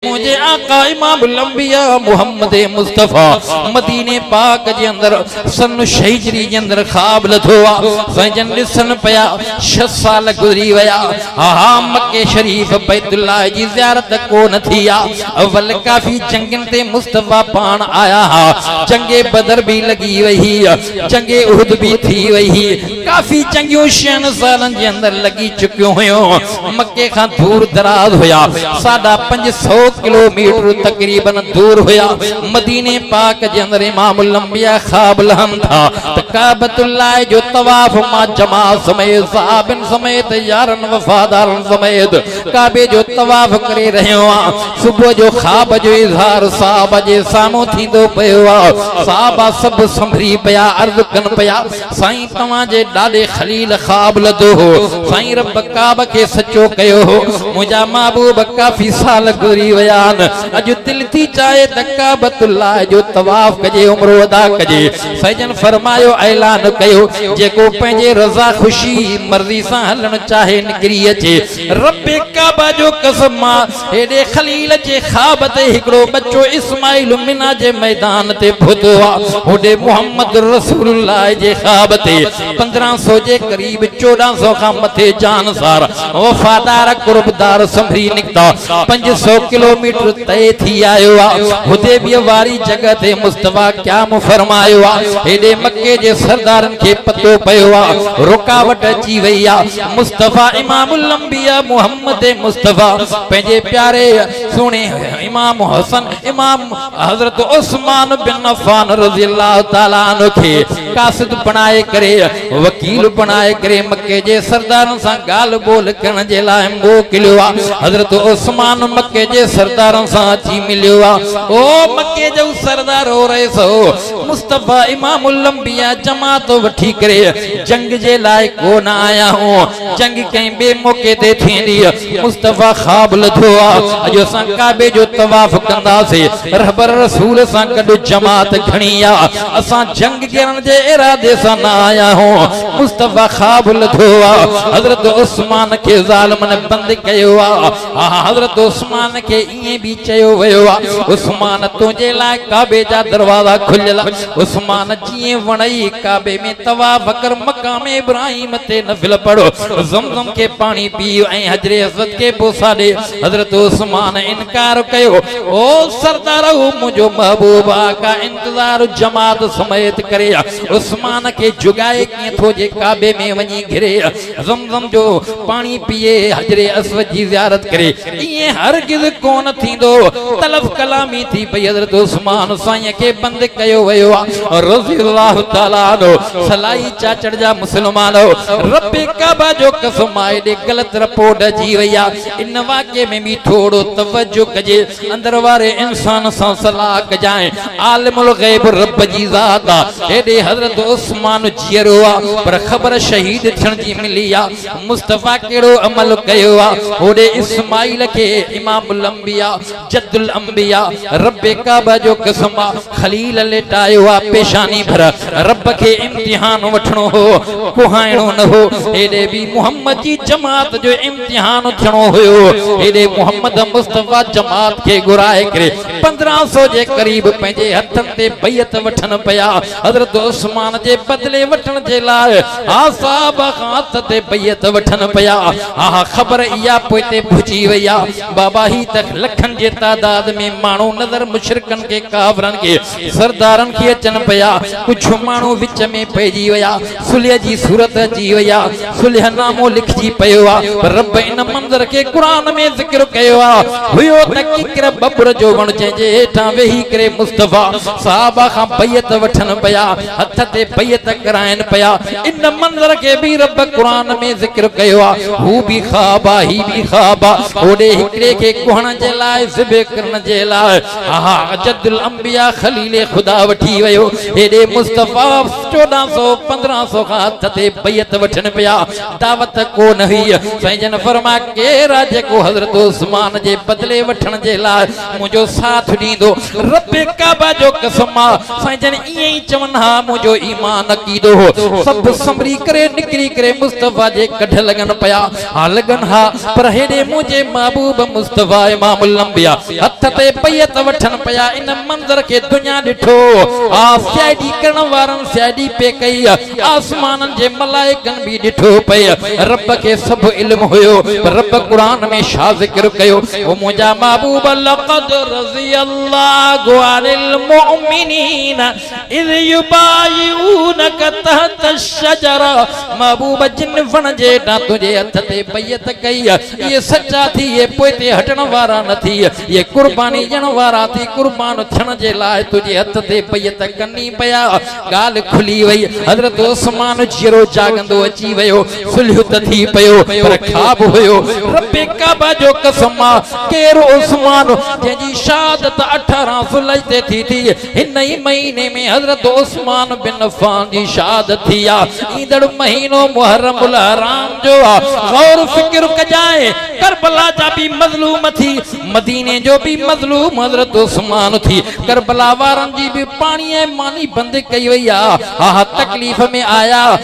منهنجي آقا امام الانبياء محمد مصطفي مديني پاڪ جي اندر سن شهجري جي اندر خواب لڌو آ سائين جن ڏسن پيا 6 سال گذري ويا ها مڪه شريف بيت الله جي زيارت ڪو نه ٿي آ اول ڪافي جنگن تي مصطفي پاڻ آيا ها جنگ بدر به لڳي وئي جنگ احد به ٿي وئي ڪافي چڱيون شين سالن جي اندر لڳي چڪيون هيون. مڪي کان دور دراز هيا. ساڍا پنج سؤ ڪلو ميٽر تقريبن دور هيا. مديني پاڪ جي اندر امام الانبياء خواب لهن ٿا ته ڪعبة الله جو طواف مان جماعت سميت صحابين سميت يارن وفادارن سميت ڪعبي جو طواف ڪري رهيو آهيان. صبح جو خواب جو اظهار صحابه جي سامهون ٿيندو پيو آهي. صحابه سڀ سنڀري پيا عرض ڪن پيا. سائين توهان جي ڏاڏي خليل خواب لڌو هو سائين رب ڪعبه کي سچو ڪيو هو منهنجا محبوب ڪافي سال گذري ويا آهن اڄ دل ٿي چاهي ته ڪعبت الله جو طواف ڪجي عمرو ادا ڪجي سائجن فرمايو اعلان ڪيو جيڪو پنهنجي رضا خوشي مرضي سان هلڻ چاهي نڪري اچي رب ڪعبه جو قسم مان هيڏي خليل جي خواب تي هڪڙو ٻچو اسماعيل منيٰ جي ميدان تي پهتو آ، هوڏي محمد رسول الله جي خواب تي پندرهن سو جي قريب چوڏهن سو کان مٿي جانثار وفادار قربدار سنڀري نڪتا، پنج سو ڪلوميٽر طئي ٿي آيو آ، حديبيه واري جڳهه تي مصطفيٰ قيام فرمايو آ، هيڏي مڪي جي سردارن کي پتو پيو آ رڪاوٽ اچي وئي آ، مصطفيٰ امام الانبياء محمد مصطفيٰ پنهنجي پياري سهڻي امام حسن امام حضرت عثمان بن عفان رضي الله تعالٰي عنه کي قاصد بڻائي ڪري وڪيل بڻائي ڪري مڪي جي سردارن سان ڳالهه ٻولهه ڪرڻ جي لاء موڪليو آ حضرت عثمان مڪي جي سردارن سان اچي مليو آ او مڪي جو سردار هو رئيس هو مصطفيٰ امام الانبياء جماعت وٺي ڪري جنگ جي لاء ڪو نه آيا آهيون، جنگ ڪنهن ٻئي موقعي تي ٿيندي. مصطفيٰ خواب لڌو آ، اڄ اسان ڪعبي جو طواف ڪنداسين، رهبر رسول سان گڏ جماعت گهڻي آ، اسان جنگ ڪرڻ جي ارادي سان نه آيا آهيون، مصطفيٰ خواب لڌو آ، حضرت عثمان کي ظالمن بند ڪيو آ، اها حضرت عثمان کي ائين به چيو ويو آهي عثمان تنهنجي لاء ڪعبي جا دروازا کليل آهن عثمان جيئن وڻئي ڪعبي ۾ طواف ڪر مقام ابراهيم تي نفل پڙهه زم زم کي پاڻي پيء ۽ حجر اسود کي بوسا ڏي حضرت عثمان انڪار ڪيو او سردار هو منهنجو محبوب آقا انتظار جماعت سميت ڪري عثمان کي جڳائي ڪيئن ٿو جي ڪعبي ۾ وڃي گهري زمزم جو پاڻي پيئي حجر اسود جي زيارت ڪري ائين هرگز ڪونه ٿيندو تلف ڪلامي ٿي پئي حضرت عثمان سائين کي بند ڪيو ويو آهي رضي الله تعالٰي عنه سلائي چاچڙ جا مسلمان رب ڪعبه جو قسم آهي ايڏي غلط رپورٽ اچي وئي آهي ان واقعي ۾ به ٿورو توجه ڪجي اندر واري انسان سان صلاح ڪجانء، عالم الغيب رب جي ذات آ، هيڏي حضرت عثمان جيئرو آ، پر خبر شهيد ٿيڻ جي ملي آ، مصطفيٰ ڪهڙو عمل ڪيو آ، هوڏي اسماعيل کي امام الانبياء، جد الانبياء، رب ڪعبه جو قسم آ، خليل ليٽايو آ پيشاني ڀر، رب کي امتحان وٺڻو هو، ڪهائڻو نه هو، هيڏي به محمد جي جماعت جو امتحان. جهان ٿيڻو هيو هيڏي محمد مصطفيٰ جماعت کي گهرائي ڪري پندرهن سو جي قريب پنهنجي هٿن تي بيعت وٺن پيا حضرت عثمان جي بدلي وٺڻ جي لاء اها صحابه کان هٿ تي بيعت وٺن پيا اها خبر اها پوئتي پهچي وئي آهي بابا هي ته لکن جي تعداد ۾ ماڻهو نظر مشرڪن کي ڪافرن کي سردارن کي اچن پيا، ڪجهه ماڻهو وچ ۾ پئجي ويا، صلح جي صورت اچي وئي آ، صلح نامو لکجي پيو آ، پر رب ان منظر کي قرآن ۾ ذڪر ڪيو آ، هيو ته ڪيڪر ٻٻر جو وڻ جنهن جي هيٺان ويهي ڪري مصطفيٰ صحابه کان بيعت وٺن پيا، هٿ تي بيعت ڪرائين پيا، ان منظر کي به رب قرآن ۾ ذڪر ڪيو آ، هو به خواب آ، هي به خواب آ، هوڏي هڪڙي کي ڪهڻ جي لاء ذبح ڪرڻ جي لاء. اها جد الانبياء خليل خدا وٺي ويو هيڏي مصطفيٰ چوڏهن سو پندرهن سو کان هٿ تي بيعت وٺن پيا دعوت ڪو نه هئي سائين جن فرماء ڪير آهي جيڪو حضرت عثمان جي بدلي وٺڻ جي لاء منهنجو ساٿ ڏيندو رب ڪعبه جو قسم آ سائين جن ائين ئي چون ها منهنجو ايمان عقيدو هو سڀ سنڀري ڪري نڪري ڪري مصطفيٰ جي ڪڍ لڳن پيا ٿا لڳن ها پر هيڏي منهنجي محبوب مصطفيٰ امام الانبياء هٿ تي بيعت وٺن پيا ان منظر کي دنيا ڏٺو ها سي آء ڊي ڪرڻ وارن سي آء ڊي پئي ڪئي آسمانن جي ملائڪن به ڏٺو پئي رب کي سڀ علم هيو پر رب قرآن ۾ ڇا ذڪر ڪيو هو منهنجا محبوب لقد رضي الله عن المؤمنين ان يبايعونک تحت الشجرة محبوب جن وڻ جي هيٺان تنهنجي هٿ تي بيعت ڪئي، اهي سچا ٿي، اهي پوئتي هٽڻ وارا نه ٿي، اهي قرباني ڏيڻ وارا ٿي، قربان ٿيڻ جي لاء تنهنجي هٿ تي بيعت ڪن ئي پيا. ڳالهه کلي وئي. حضرت عثمان جيئرو جاڳندو اچي ويو. صلح ته ٿي پيو، پر خواب هيو. رب ڪعبه جو قسم آ، ڪير عثمان، جنهن جي شهادت اٺارهن ذوالحج تي ٿي ٿي، هن ئي مهيني ۾ حضرت عثمان بن عفان جي شهادت ٿي آ. ايندڙ مهينو محرم الحرام جو آ. غور فڪر ڪجانء، ڪربلا جا به مظلوم ٿي، مديني جو به مظلوم حضرت عثمان ٿي، ڪربلا وارن جي به پاڻي ۽ ماني بند ڪئي وئي آ. اها تڪليف ۾ آيا.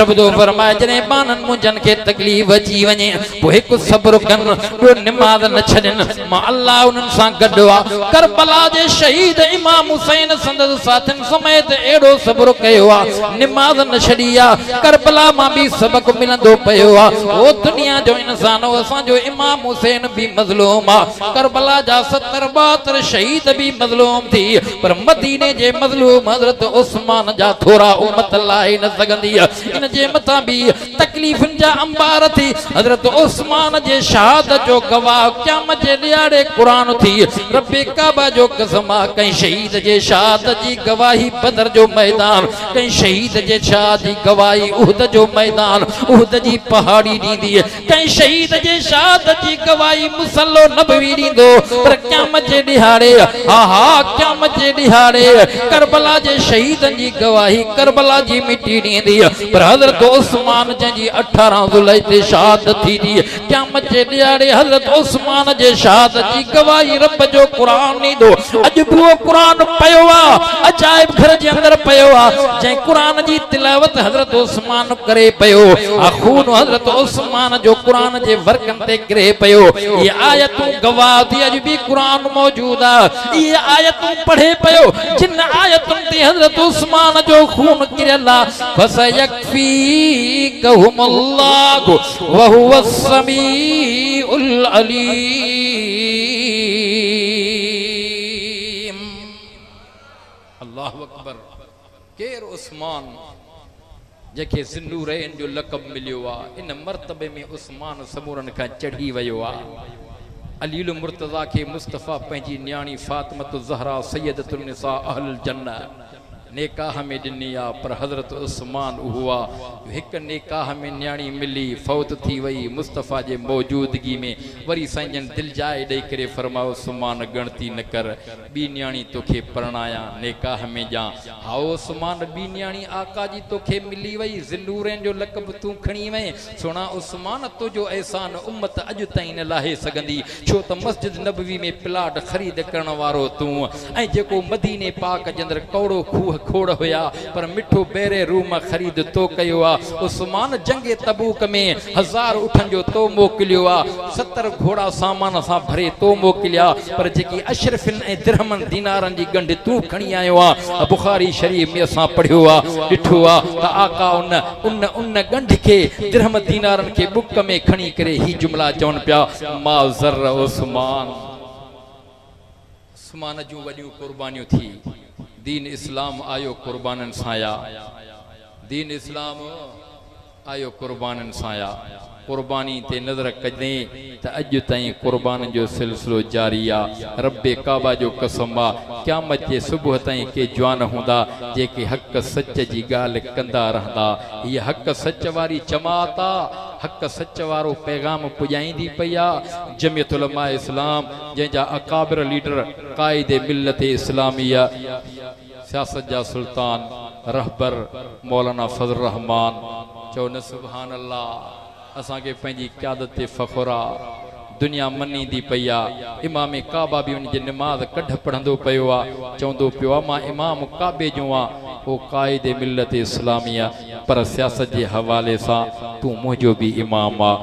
رب جو فرمان آهي جڏهن ٻانهن منهنجن کي تڪليف اچي وڃي پوء هڪ صبر ڪن ٻيو نماز نه ڇڏين مان الله انهن سان گڏ آ ڪربلا جي شهيد امام حسين سندس ساٿين سميت اهڙو صبر ڪيو آ نماز نه ڇڏي آ ڪربلا مان به سبق ملندو پيو آ او دنيا جو انسان او اسان جو امام حسين به مظلوم آ ڪربلا جا ستر ٻهتر شهيد به مظلوم ٿي پر مديني جي مظلوم حضرت عثمان جا ٿورا امت لاهي نه سگهندي. ان جي مٿان به تڪليفن جا انبار ٿي. حضرت عثمان جي شهادت جو گواهه قيامت جي ڏيهاڙي قرآن ٿي. رب ڪعبه جو قسم آ ڪنهن شهيد جي شهادت جي گواهي بدر جو ميدان، ڪنهن شهيد جي شهادت جي گواهي احد جو ميدان، احد جي پهاڙي ڏيندي. ڪنهن شهيد جي شهادت جي گواهي مصلو نبوي ڏيندو پر قيامت جي ڏهاڙي ها ها قيامت جي ڏهاڙي ڪربلا جي شهيدن جي گواهي ڪربلا جي مٽي ڏيندي پر حضرت عثمان جنهن جي اٺارهن ذوالحج تي شهادت ٿيندي قيامت جي ڏهاڙي حضرت عثمان جي شهادت جي گواهي رب جو قرآن ڏيندو اڄ به اهو قرآن پيو آ، عجائب گهر جي اندر پيو آ، جنهن قرآن جي تلاوت حضرت عثمان ڪري پيو آ، خون حضرت عثمان جو قرآن جي ورقن تي ڪري پيو، اهي آيتون گواهه ٿي اڄ به قرآن موجود آ، اهي آيتون پڙهي پيو، جن آيتن تي حضرت عثمان جو خون ڪريل آ، فسيڪفيكهمالله. يكفيڪهم الله وهو السميع العليم الله اڪبر ڪير عثمان جنهن کي ذي النورين جو لقب مليو آ ان مرتبي ۾ عثمان سمورن کان چڙهي ويو آ علي المرتضيٰ کي مصطفيٰ پنهنجي نياڻي فاطمة الزهراء سيدة النساء اهل الجنة نيڪاهه ۾ ڏني آ پر حضرت عثمان اهوا جو هڪ نيڪاهه ۾ نياڻي ملي فوت ٿي وئي مصطفيٰ جي موجودگي ۾ وري سائين جن دل جاء ڏئي ڪري فرمايو عثمان ڳڻتي نه ڪر ٻي نياڻي توکي پرڻايان نيڪاهه ۾ ڄان هائو عثمان ٻي نياڻي آقا جي توکي ملي وئي ذي نورين جو لقب تون کڻي وئين سھڻا عثمان تنھنجو احسان امت اڄ تائين نه لاھي سگھندي ڇو ته مسجد نبوي ۾ پلاٽ خريد ڪرڻ وارو تون ۽ جيڪو مديني پاڪ جي اندر ڪوڙو کوھ کوڙ ھيا پر مٺو بئري روم خريد تو ڪيو آ عثمان جنگ تبوڪ ۾ ھزار اٺن جو تو موڪليو آ ستر گھوڙا سامان سان ڀري تو موڪليا پر جيڪي اشرفين ۽ درھمن دينارن جي ڳنڍ تون کڻي آيو آ بخاري شريف ۾ اسان پڙھيو آ ڏٺو آ ته آقا ان ان ان ڳنڍ کي، درهم دينارن کي ٻڪ ۾ کڻي ڪري هي جملا چون پيا، ما ضر عثمان. عثمان جون وڏيون قربانيون ٿي. دين اسلام آيو قربانن سان يا. دين اسلام آيو قربانن سان يا. قرباني تي نظر ڪجي ته اڄ تائين قربانن جو سلسلو جاري آ. رب ڪعبه جو قسم آ قيامت جي صبح تائين ڪي جوان هوندا جيڪي حق سچ جي ڳالهه ڪندا رهندا. هيء حق سچ واري جماعت آ، حق سچ وارو پيغام پڄائيندي پئي آ. جميعت علماء اسلام جنهن جا اڪابر ليڊر قائد ملت اسلاميه، سياست جا سلطان رهبر مولانا فضل الرحمان چئو نه سبحان الله اسان کي پنهنجي قيادت تي فخر آ دنيا منيندي پئي آ امام ڪعبه به ان جي نماز ڪڍ پڙهندو پيو آ چوندو پيو آ مان امام ڪعبي جون آ او قائد ملت اسلاميه پر سياست جي حوالي سان تون منهنجو به امام آ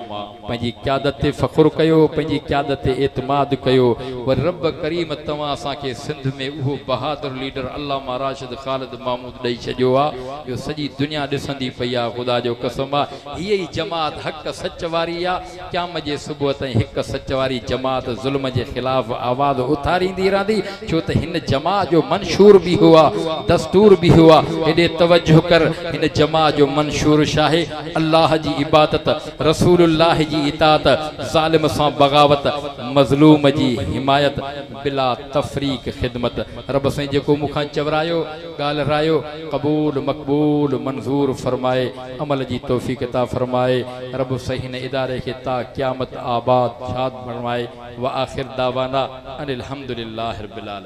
پنهنجي قيادت تي فخر ڪيو، پنهنجي قيادت تي اعتماد ڪيو، وري رب ڪريم توهان اسان کي سنڌ ۾ اهو بهادر ليڊر علامه راشد خالد محمود ڏئي ڇڏيو آ جو سڄي دنيا ڏسندي پئي آ خدا جو قسم آ هيء ئي جماعت حق سچ واري آ قيام جي صبح تائين حق سچ واري جماعت ظلم جي خلاف آواز اٿاريندي رهندي ڇو ته هن جماع جو منشور به اهو آ دستور به اهو آ هيڏي توجه ڪر هن جماع جو منشور ڇاهي الله جي عبادت رسول الله جي اطاعت، ظالم سان بغاوت، مظلوم جي حمايت، بلا تفريق خدمت. رب سائين جيڪو مون کان چورايو، ڳالهه رايو، قبول، مقبول، منظور فرمائي، عمل جي توفيق عطا فرمائي. رب سائين هن اداري کي تا قيامت آباد شاد فرمائي. وآخر دعوانا ان الحمدلله رب العالمين.